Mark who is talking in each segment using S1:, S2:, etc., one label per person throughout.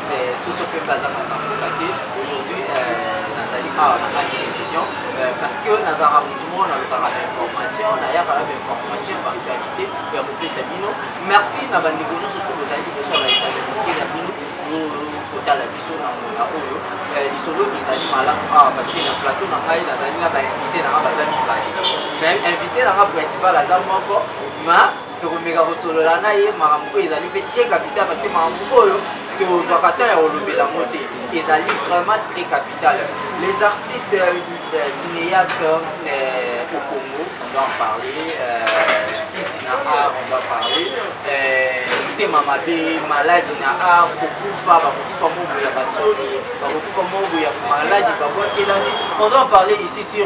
S1: Eh, soso mpe mpe aza makamboka te aujourd'hui eh, nazali awa na age télévision eh, parce que nazalaka motu moko nalukaka bainformation nayaka na bainformation baactualité ya kopesa bino merci na bandeko nyonso to bozali liboso ya baetalelike na bino kotala biso na mona oyo lisolo ezali malamu awa ah, parce que na plateau na ngai nazali na bainvité na ngai baza mibale mais invité na ngai principal aza moko ma tokomeka kosolola na ye makambo oyo ezali mpe très capital parce que makambo oyo tozwaka temps ya kolobela yango te ezali vraiment très capital les artistes euh, euh, cinéastes euh, au congo on doit en parler euh, ici na art on doit parler motema euh, mabe maladi na art kokufa bakokufa mobo ya basoni bakokufa mobo ya maladi babwakelani on doit en parler ici sur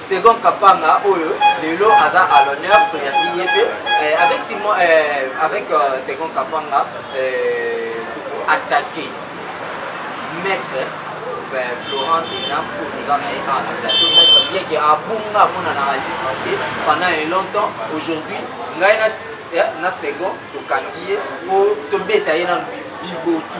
S1: second kapanga oyo lelo aza à l'honneur toyambi ye mpe euh, avec simon euh, avec euh, second kapanga euh, toko attaquer maître euh, florent denam oyo toza na ye awa na plateau maître bien ke abunga amonanaka lisusu te pendant un longtemps aujourd'hui ngai na, na second tokangi ye mpo tobeta ye na bibotu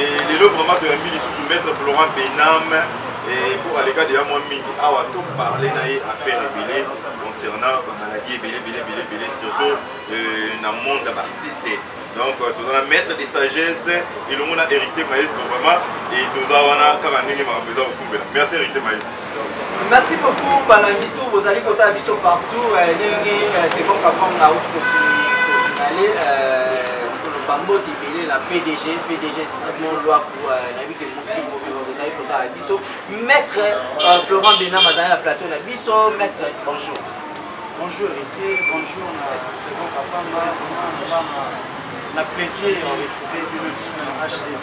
S2: Et lelo vraiment toyambi lisusu maître Florent Bename et pour aleka deya mwa mingi awa to parle na ye affaire ebele concernant bamaladi ebele ebele ebele ebele surtout euh, na monde ya baartiste donc euh, toza na maître de sagesse elongo na héritier maestro vraiment et toza wana kaka ndenge makambo eza kokumbela merci héritier maestro Merci
S1: beaucoup balandi tout bozali kotala biso partout euh, ndenge euh, second kapang na uti kosinale koloba euh, mbote ebele na pdg pdg simon lwaku nayebi ke mokimo bozali kotala biso maître florent benam azali na plateau na biso maître bonjour bonjour
S3: héritier bonjour na second kapanga na plaisir retrouver lui-même sur la hdv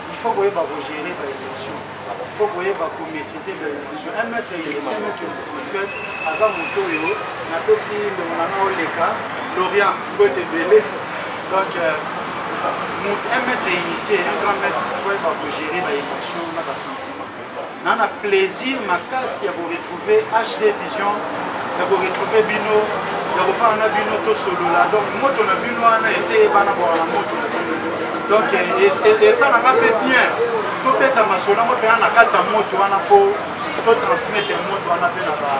S3: il faut koyeba kogere ba émotion il faut koyeba komaîtrise ba émotion un maître élecien maître spirituel aza moto oyo napesi ndongo na nga oleka lorient mbote ebele donc euh, un maître initié un grand maître il faut koyeba kogere ba émotion na basentiment na na plaisir makasi ya koretrouve hd vision ya koretrouve bino ya kofana na bino tosolola donc moto na bino wana ese eyebana bwaka na moto na bino donc esalanga mpe bien tobeta masolo yango mpena na kati ya moto wana mpo totransmettre moto wana mpe na ba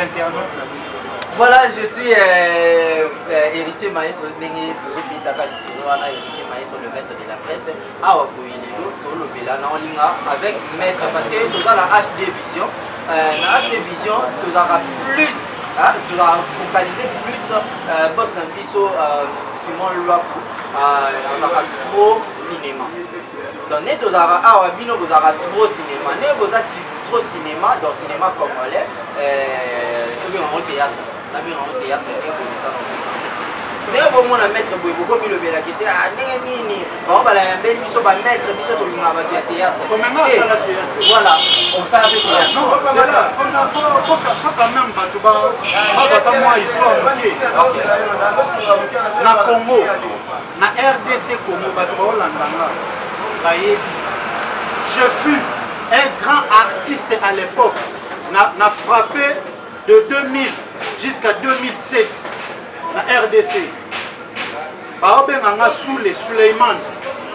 S3: internautes na biso voilà
S1: je suis euh, euh, héritier maestro ndenge tozobetaka lisolo wana héritier maestro le maître de la presse awa boye lelo tolobela na olinga avec maître parce que toza na hd vision euh, na hd vision tozalaka plus tozalaka focalise plus euh, bos na biso euh, simon lwaku azalaka trop cinéma donc nde tozalaka awa bino bozalaka trop cinéma nde boza trop cinéma dans cinéma congolais tobengango théâtre Nabino yango teyaka ndenge ekomisaka ndenge bomona maître boye bokomilobelaki te ah, ndenge nini bango balayambeli biso bamaître biso tolingaka bato ya théâtre voilà osala mpe théâtreameme
S3: bato bazata mwa histoire moke na congo na rdc congo bato baolandanga bayebi je fus un grand artiste à l'époque na, na frappe de 2000 jusqu'à 2007 na rdc baobenga nga sule suleiman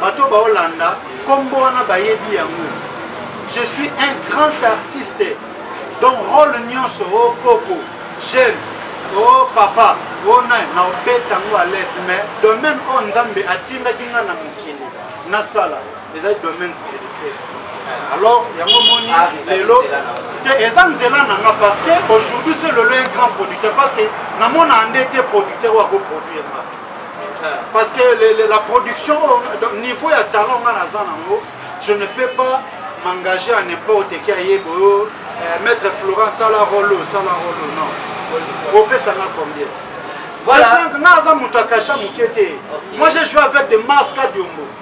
S3: bato baolanda nkombo wana bayebi yango je suis un grand artiste donc role nyonso o oh, koko jeune o oh, papa o oh, nani naobeta yango alese mais domaine oyo nzambe atindaki nga na mokili nasala eza domaine spirituel eh, alors yango moni ah, lelo te eza nzela na nga parce que aujourd'hui se lelo un grand producteur parce que namona nde te producteur oyo akoproduire nga eh, parce que le, le, la production niveau ya talent nga naza nango je ne peux pas m'engager à n'importe qui ayeba oyo eh, maître florent sala rolo sala rolo non opesa nga combien voilà. nga aza moto akasha moke te moi j'ai joué avec des masques adiombo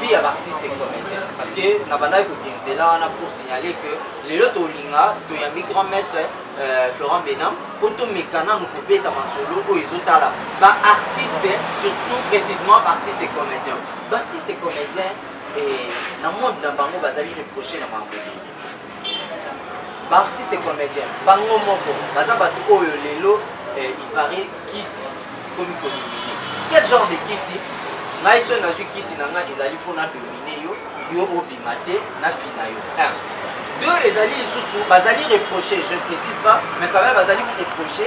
S1: vie ya baartiste comédien parce que na bandaki kokende nzela wana pour signaler que lelo tolinga toyambi grand maître euh, florent benam mpo tomeka nanu kobeta masolo oyo ezotala baartiste surtout précisement baartiste comédien baartiste comédien eh, na monde na bango bazali reproche na bango ba artiste comédien bango moko baza bato oyo lelo eh, il paraît kisi ekomi kodomine quel genre de kisi ngai soki nazwi kisi na ngai ezali mpo na domine yo yo obima te na fina yo deux ezali lisusu bazali reproche je ne précise pas mais quand même bazali reproche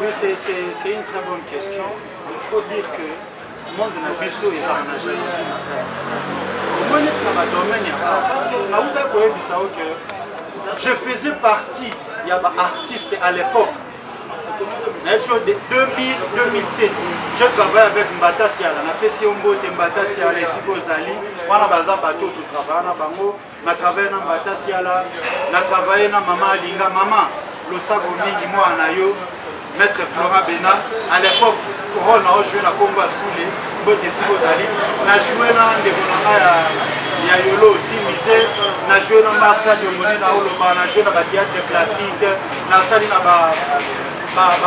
S1: Oui,
S3: c'est une très bonne question. Il faut dire que le monde na biso eza na jalousie makasi. Moi neti na ba domaine ya art parce que na uta ko yebisa yo que je faisais partie ya ba artistes à l'époque. Na yesu 2000 2007 je travaille avec Mbata Siala na pesi yo mbote Mbata Siala esiko ozali wana baza bato to travailler na bango na travaille na mbata siala na travaille na mama alinga mama losako mingi mwana na yo maître flora bena à l'époque role na ojoue na kombo asule mbote esika ozali na joue na ndeko na ngai ya ya yolo aussi mise na joue na maska diomone na oloba na joue na batheatre classique nasali na ba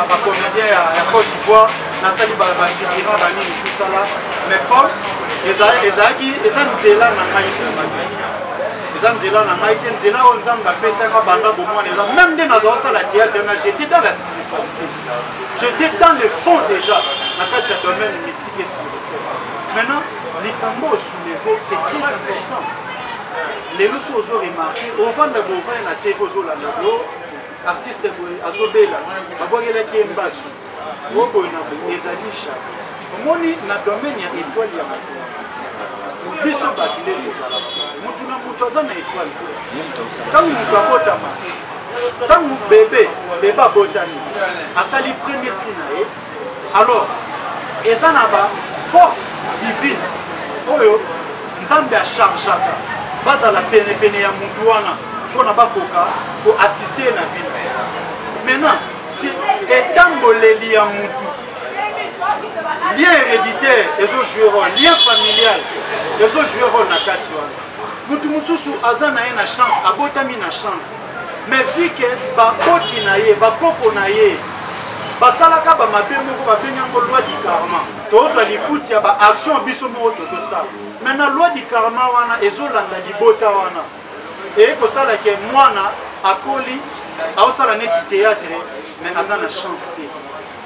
S3: bacomédien ya cote d'ivoire nasali bafigura banini tosala mais paul ezalaki eza nzela na ngai eza nzela na ngai te nzela oyo nzambe apesaka banda bomwana eza meme nde nazosala théâtre na j'étais dans la spiritualité j'étais dans le fond déjà na kati ya domaine mystique et spirituel maintenant likambo osouleve c'est très important lelo so ozo remarke ovanda bovaya na tv ozolanda lo artiste boye azobela babwakelaki ye mbasu oboye na boye ezali jalis omoni na domaine ya étoile ya biso bato nde tozalaka motu na moto aza na étoile ntango moto abotama ntango bebe bebe abotami asali premier tri na ye alors eza na ba force divine oyo nzambe achargeaka bazala penepene ya motu wana mpo na bakoka koassiste na bino maintenant si etamboleli ya motu lien héréditaire ezojoue role lien familial ezojoue role na kati wana motu mosusu aza na ye na chance abotami na chance mais vu que baboti na ye bakoko na ye basalaka bamabe moko babengi yango loi du karma tozwa lifuti ya baaction biso moko tozosala me na loi du karma wana ezolanda libota wana eye kosala ke mwana akoli aosala neti théâtre me aza na chance te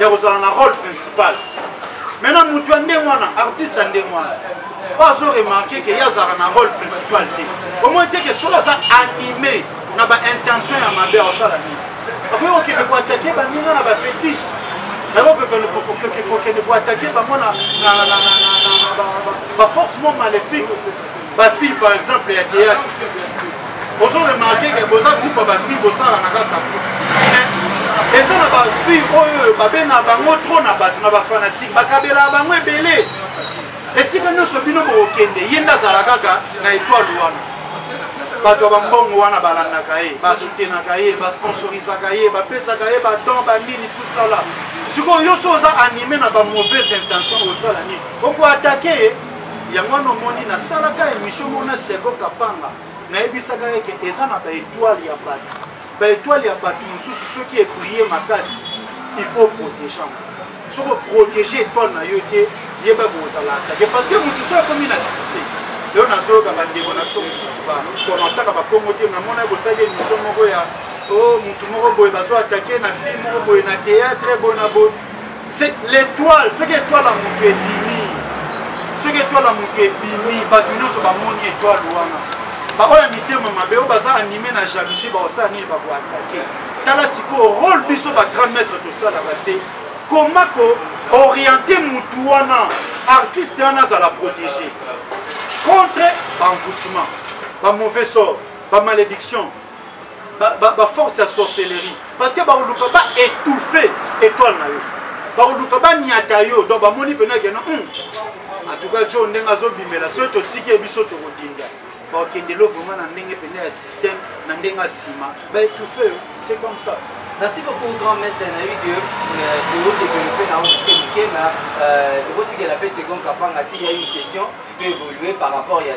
S3: ya kozala na rôle principal maintenant motu ya ndenge wana artiste ya ndenge wana po azo remarke ke ye azalaka na rôle principal te omoi te ke soki aza anime na baintention ya mabe akosala nini akoki kokende koatake baninga na bafetiche yango kokende koatake bango na baforce mo maléfique ba fille par exemple ya théâtre ozo remarke ke boza groupe ya ba fille bosala na kati ya groupe mais eza na ba fille oyo babenga bango trop na bato na bafanatike bakabelaka bango ebele esika nyonso bino bokokende ye nde azala kaka na etoile wana bato ya bambongo wana balandaka ye basutenaka ye basponsorisaka ye bapesaka ye badon banini tusala sikoyo yo so oza anime na bamauvaise intention osala nini okoatake ye yango wana omoni nasalaka émission moko na seko kapanga nayebisaka ye ke eza na baetoile ya bato baetoile ya bato mosusu soki ebrie makasi il faut protéger yango soki oprotege étoile na yo te yeba kozala atake parce que motu soki akomi na succès lelo nazoyoka bandeko na biso mosusu bakomentaka bakongo te namona kosali émission moko ya o oh, motu moko boye bazo atake na fille moko boye na théâtre boye na boye c'est l'étoile soki étoile ya moto ebimi soki étoile ya moto ebimi bato nyonso bamoni étoile wana baoyo ya mitema mabe oyo baza anime na jalousie bakosala nini bakoatake tala sikoyo role biso ba 30 mètre tosalaka se koma ko oriente motu wana artiste wana azala protégé contre banvoutement bamauvais sort bamalédiction baforce ya sorcellerie parce que bakoluka ba étouffe étoile na yo bakoluka baniata yo donc bamoni mpena kena hmm. en tout cas jo ndenge azobimela soki totiki ye biso tokodinda bakokende lo vraiment na ndenge mpena ya système na ndenge asima baétouffe yo c'est comme ça merci beaucoup grand
S1: maître nayebi ke todeveloppe na yango moke moke na tokotikela mpe second kapanga si ya une question peut évoluer par rapport ya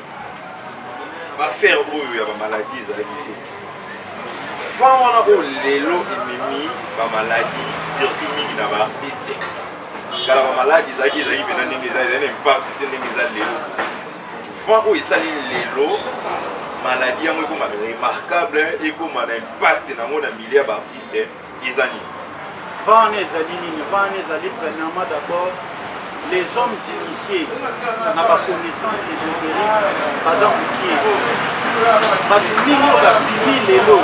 S2: baaffaire oyo ya bamaladi ezalaki te vent wana oyo lelo ememi bamaladi surtout mingi na baartiste kala bamaladi ezalaki ezalaki mpena ndenge eza ezali na impakti te ndenge eza lelo vent oyo esali lelo maladi yango ekoma remarquable ekoma na impakte na yango na milieu ya baartiste eza nini vana ezali nini vana
S3: ezali premièrement d'abord les hommes initiés na baconnaissance ésotérique baza mokie bato mingi oyo babimi lelo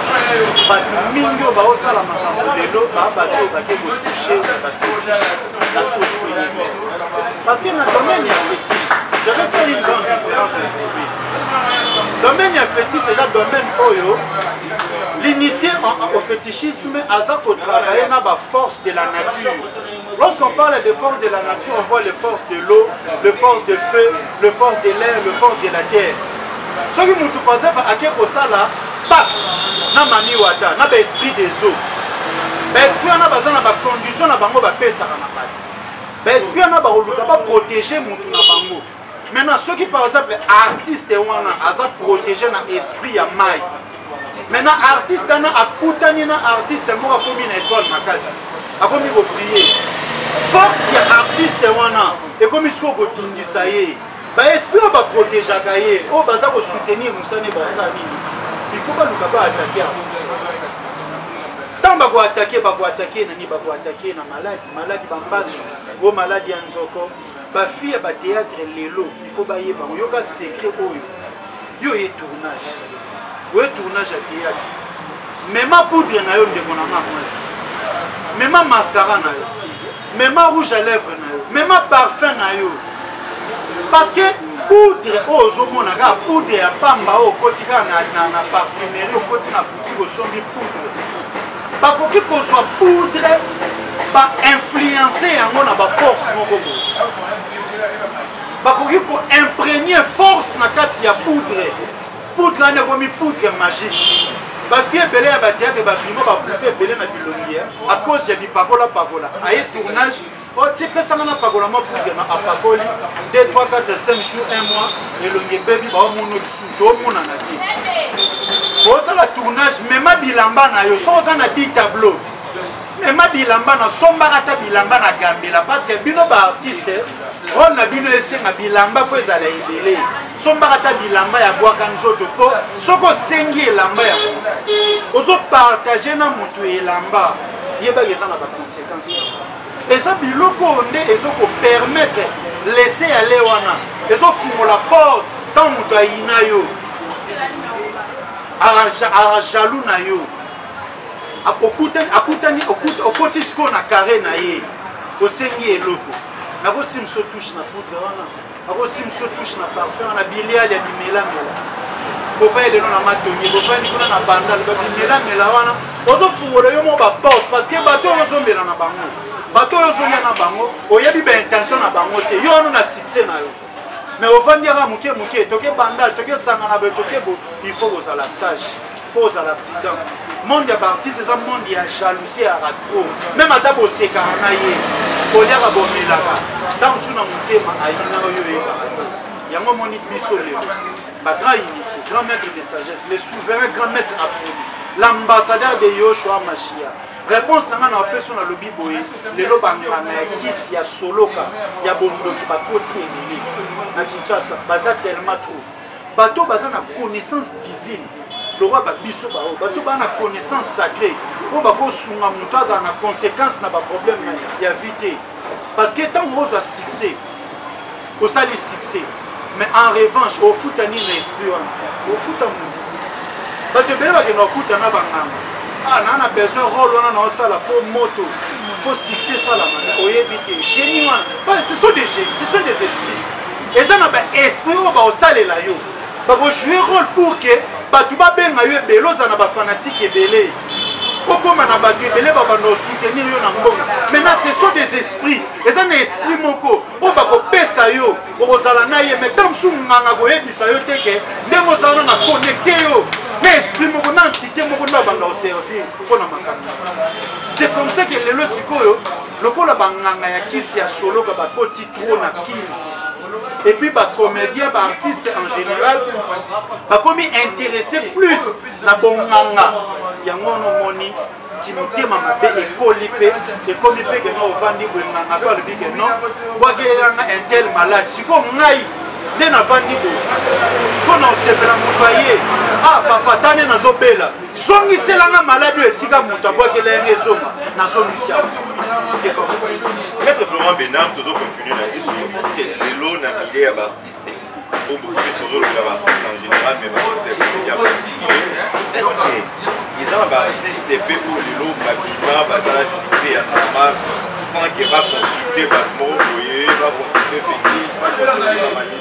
S3: bato mingi oyo baosala makambo lelo baa bato oyo bake kotouche bafetiche na société parce que na domaine ya fetiche j'avais fait une grande différence aujourd'hui domaine ya fetiche eza domaine oyo l'initié au fetiche Psychisme aza ko travailler na ba force de la nature. Lorsqu'on parle de force de la nature, on voit les forces de l'eau, les forces de feu, les forces de l'air, les forces de la terre. Soki mutu paza ba ake ko sala pacte na mami wata na ba esprit des eaux. Ba esprit na baza na ba conditions na bango ba pesaka na bato. Ba esprit na ba koluka ba protéger mutu na bango. maintenant soki par exemple artiste wana aza protégé na esprit ya mai maintenant artiste wana akutani na artiste moko akomi na étoile makasi akomi koprie force ya artiste wana ekomi sikoyo kotindisa ye baesprit oyo baprotegeaka ye oyo baza kosoutenir mosani basa nini ifo baluka baatake artiste ntango bakoatake bakoatake nani bakoatake na maladi maladi bambasu o maladi ya nzoko bafi ya bateatre lelo ifo bayeba yango yoka secret oyo yo oye tournage oye tournage ya teatre mema poudre na yo ndeko na nga mwasi mema mascara na yo mema rouge à lèvre na yo mema parfum na yo parce que poudre oyo ozomona kaka poudre ya pamba oyo okoti kaka na parfumerie okoti na boutique osombi poudre bakoki kozwa poudre bainfluence yango na baforce moko boye bakoki koimprenie force na kati ya poudre poudre wana ekomi poudre magique bafie ebele ya bateatre babima babute ebele na bilongi a cause ya bipakolapakola aye tournage otie pesa nga napakola mwa poudre na apakoli 2 3 4 5 jour 1 mois elongi ebebi baomono lisusu toomonana te bosala tournage mema bilamba na yo soki oza na 10 tableau mema bilamba na sombaka ata bilamba na gambela parce que bino baartiste role na bino esenga bilamba fo ezala ebele sombaka ata bilamba ya bwaka nzoto mpo soki osengi elamba ya motu ozopartage na motu elamba yebaka eza na baconsequence eza biloko oyo nde ezokopermettre lese ya le wana ezofungola porte ntango moto ayina yo arajalou na yo akutani okoti sikoyo na kare na ye osengi eloko nakosimso touche na poudre wana akosi mosusu touche na parfum wana biliali ya bimelamela bovai lelo na matongi bovandi kuna na bandal babimelamela wana ozofungola yo mo baporte parce que bato oyo ozombela na bango bato oyo ozolia na bango oyebi baintention na bango te yo wano na succès na yo mais ovandi yaka moke moke toke bandal toke sangana boye toke bo il faut kozala sage faut ozala prudent monde ya baartiste eza monde ya jalousie ya ratro meme ata bosekaka na ye kolyaka bomelaka ntango mosusu na motema ayina oyo oyebaka te yango omoni biso lelo bagrand initie grand maître de sagesse le souverain grand maître absolu l'ambassadeur de yoshua machia réponse yanga na opeso nalobi boye lelo banganga ya kisi ya soloka ya bondoki bakoti ebele na kinshasa baza tellement trop bato baza na connaissance divine lokola babiso baoyo bato baa na connaissance sacré oyo bakosunga moto azala na conséquence na baproblème ya vie te parce que ntango ozwa succès osali succès mais en revanche ofuta nini na esprit wana ofuta motu bato ebele bakenda kokuta na banganga ah naa na besoin role wana naosala fo moto fo succès esalama oyebi te génie wana ce sont des génie ce sont des esprits eza na baesprit oyo baosalela yo bakojoue role pour ke bato babenga yo ebele oza na bafanatike ebele okóma na bato ebele babanda osoutenir yo na mbongo maintenant ce sont des esprits eza na esprit moko oyo bakopesa yo okozala na ye mais ta mosusu nganga koyebisa yo te ke ndenge ozala na connecte yo na esprit moko na entité moko nde abanda oservir mpo na makambo c'est comme ça ke lelo sikoyo lokola banganga ya kisi ya soloka bakoti trop na kin et puis bacomédien baartiste en général bakomi intéressé plus na bonganga yango wana omoni kimotema mabe ekoli mpe ekomi mpe keno ovandi boyenganga mpe alobi keno bwakelelanga intel malade sikoyo ngai nde navandi boye sikoyo na osepela moto aye ah papa tane nazobela zongisela nga maladi oyo esika moto abwakela yango ezonga nazongisi yango c'est comme ça maître florent
S2: benam tozo continue na biso parce que lelo na milieu ya baartiste oyo bokopesi tozolobela baartiste en général mais baartiste ya comédien baartiste est ce que eza na baartiste mpe oyo lelo babima bazala succès ya normal sans que baconsulte bato moko boye baconsulte fétiche baconsulte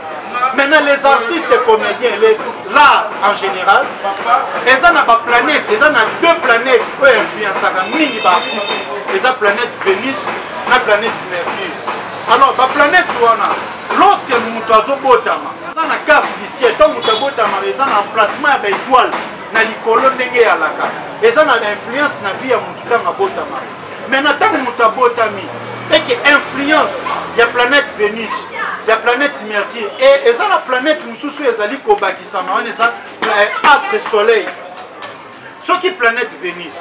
S3: maintenant les artistes comédiens les l'art en général eza na baplanète eza na deux planètes oyo influensaka mingi baartiste eza planète vénus na planète mercure alors baplanète wana lorsque moto azobotama eza na carte du ciel ntango moto abotamaka eza na emplacement ya baetoile na likolo ndenge eyalaka eza na influence na vie ya moto ntango abotamaka me na ntango moto abotami eke influence ya planète venus ya planète mercure e eza na planète mosusu oyo ezali kobakisama wana eza eh, astre soleil soki planète venus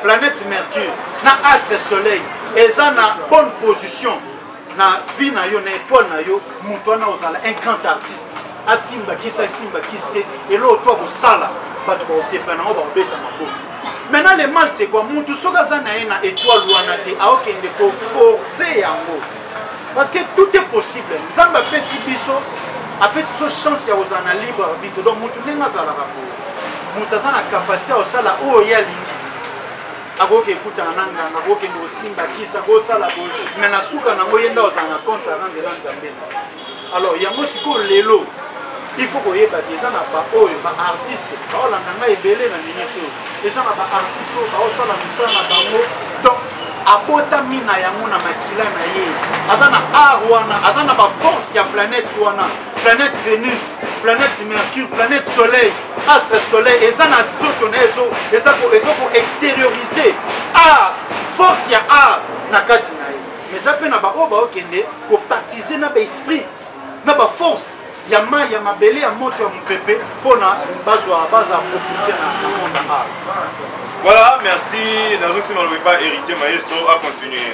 S3: planète mercure na astre soleil eza na bonne position na vie na yo na étoile na yo moto wana ozala un grand artiste asimba kisi asimba kisi te eloko to akosala bato bakosepa nango bakobeta maboko maintenant le mal c'est quoi mutu soki aza na ye na étoile wana te aokende koforce yango parce que tout est possible nzambe apesi biso apesi biso chance ya kozala na libre arbitre donc mutu ndenge azalaka boye moto aza na kapasité ya kosala oyo ye alingi akoki ekutana na nganga kokende kosimba kisa kosala boye me na suka nango ye nde ozala na compte arandela nzambe na alors yango sikoyo lelo il faut koyeba te eza na baoyo baartiste baolanda ngai ebele na minute oyo eza na baartiste oyo baosala mosala na bango donc abotami na yango na makila na ye aza na art wana aza na baforce ya planète wana planète vénus planète mercure planète soleil astre soleil eza na nzoto na ezo eza ko ezo ko extérioriser art force ya art na kati na ye mais eza mpe na baoyo baokende kopatize na baesprit na baforce ya mai ya mabele ya moto ya mopepe mpona bazwa baza propulse na monde art voilà
S2: merci nazongisi maloba epa héritier maestro a continuer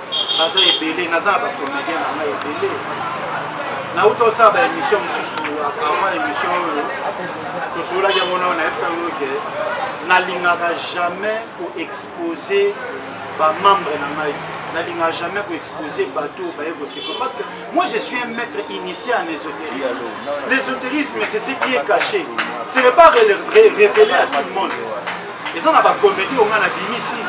S1: baza
S3: ebele naza na bacomédien na ngai ebele nauta osala baémission mosusu avant émission oyo tosololaki yango nao nayebisa yango ke nalingaka jamais koexpose bamembre na ngai nalingaka jamais koexpose bato baye koseko parce que moi je suis un maître initié en ésotérisme l'ésotérisme c'est ce qui est caché ce n'est pas révélé à tout le monde eza na bakomedi oyo ngai nabimisi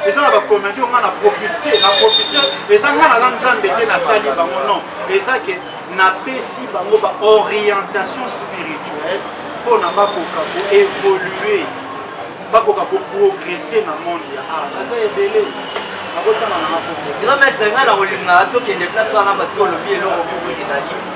S3: eza na bakomedi oyo ngai na propulse na propulse eza ngai naza nzambe te nasali bango non eza ke napesi bango baorientation spirituelle mpo na bakoka koevolue bakoka koprogresse na monde ya art aza ebele nakotanga na makofi grand maître ngai
S1: nakolingaka tokende place wana parce que olobi eloko moko ezali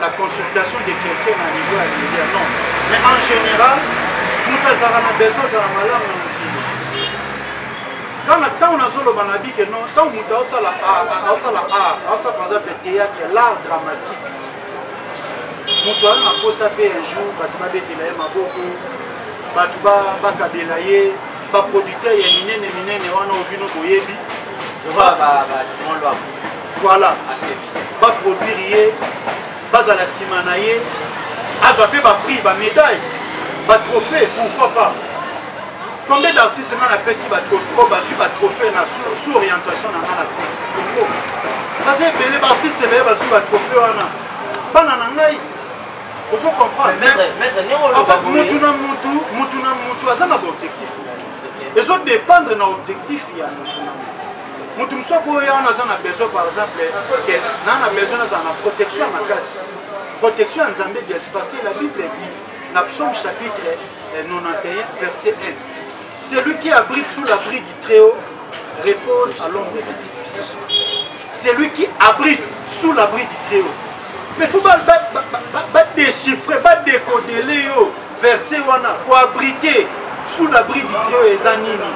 S3: la consultation de quelqu'un na niveau ya media non mais en général moto azalaka na besoin azala malamu na mokili kaka ntango nazoloba na bike non ntango moto aosala aosala art aosala par exemple théâtre l'art dramatique moto aza na mposa mpe un jour bato babetela ye maboko bato bakabela ye baproducteur ya minene minene wana obino boyebi
S1: voilà
S3: ba produire ye bazala nsima na ye azwa mpe baprix bamédaille batrophée pourquoi pas combien d'artiste nga napesi bato oyo bazwi batrophée na sous orientation na nga na congo baza ebele baartiste ebele bazwi batrophée wana bana na ngai ozo comprendre mutu na mutu mutu na mutu aza na baobjectif ezodépendre na objectif ya mutu na mutu moto mosusu akoya wana aza na besoin par exemple ke naa na besoin nazala na protection ya makasi protection ya nzambe biasi parce que la bible dit na psaume chapitre 91 eh, verset 1 celui qui abrite sous l'abri du très haut repose à l'ombre du tout puissant celui qui abrite sous l'abri du très haut mais faut badéchiffre badécodele yo verse wana koabrite sous l'abri du treo eza nini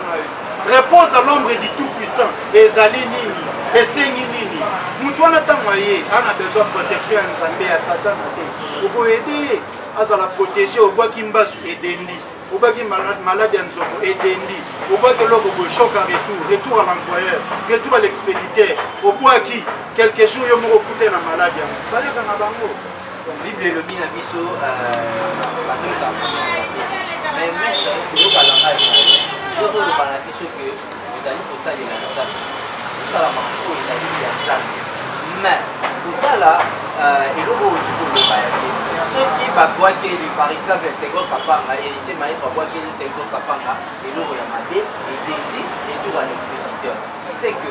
S3: repose à l'ombre du tout puissant ezali nini esengi nini moto wana ntango aye ana besoin protection ya nzambe ya satana te okoyede ye azala protege obwaki mbasu edendi obwaki malade ya nzoko edendi obwaki eloko boye choc a retour retour à l'employeur retour à l'expéditeur obwaki quelque jour yo moko okute na malade yango bayaka na bango Bible elobi
S1: na biso bazongisa mais maître koyoka langage na yo tozoloba na biso ke ozali kosalela nzambe kosala makambo oyo ezali ya nzambe mais kotala euh, eloko oyo ozi koloba ya te soki babwakeli par exemple sengo kapanga héritier maestro abwakeli sengo kapanga eloko ya mabe ebendi etour à l'expéditeur c'est que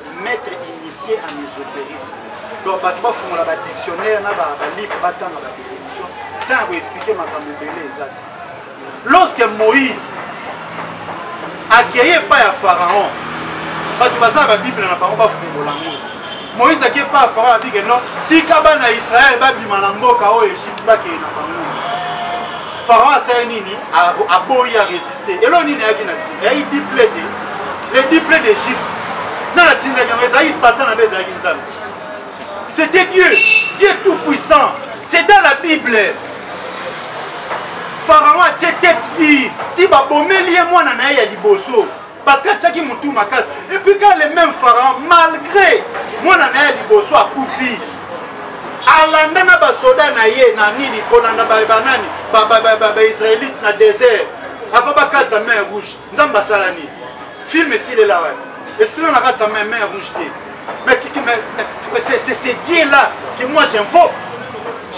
S3: maître initié en ésotérisme donc bato bafungola badictionnaire na balivre batanga badéfinition ntango ya koexplike makambo ebele eza te lorsque moïse akei epai ya pharaon bato baza na babible na bango bafungola ngo moïse akei epai ya pharaon abike no tika bana ya israele babima na mboka oyo egypte bakei na bango pharaon asali nini aboyi ya résiste eloko nini ayaki na nsima eyaki diple te le diple d'egypte na natindaki yango ezalaki satan na be ezalaki nzambe c'était dieu dieu tout puissant c'est dans la bible pharaon atie tete di ti babomeli ye mwana na ye ya liboso parce que atiaki motu makasi epuis ka le même pharaon malgré mwana na ye ya liboso akufi alanda na basoda na ye na nini kolanda banani baisraelite na desert avant bakatisa main rouge nzambe asala nini filme esilela wana esila na katisa main main rouge te mais c'est ce dieu là que moi j'invoque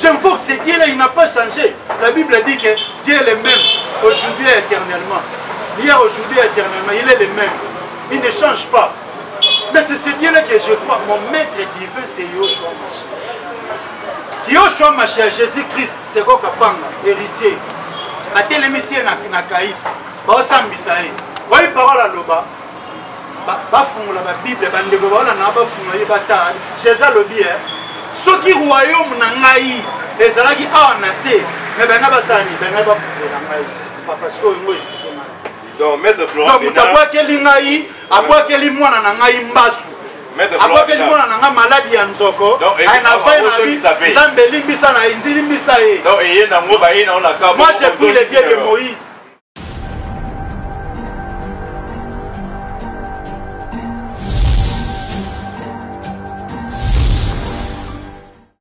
S3: j'invoque ce dieu là il n'a pas changé la bible dit que dieu est le même aujourd'hui éternellement hier aujourd'hui éternellement il est le même il ne change pas Mais c'est ce Dieu-là que je crois. Mon maître divin, c'est Yoshua Mashiach. Yoshua Mashiach, Jésus-Christ, c'est quoi Kapanga, héritier. A télémisé na Kaïf. Baosambisa ye. Oyi parole aloba. bafungola babible bandeko baona na bafungola ye batala jésus alobi e soki royaume na ngai ezalaki awa na se me bana basani bana bakundela ngai papa sikoyo ngo esplike donc maître
S2: florent donc moto abwakeli ngai
S3: abwakeli mwana na ngai mbasu abwakeli mwana na ngai maladi ya nzoko aye na vai na bi nzambe elimbisa
S2: na elimbisa ye
S3: moi
S2: je
S3: prie le
S2: dieu de moïse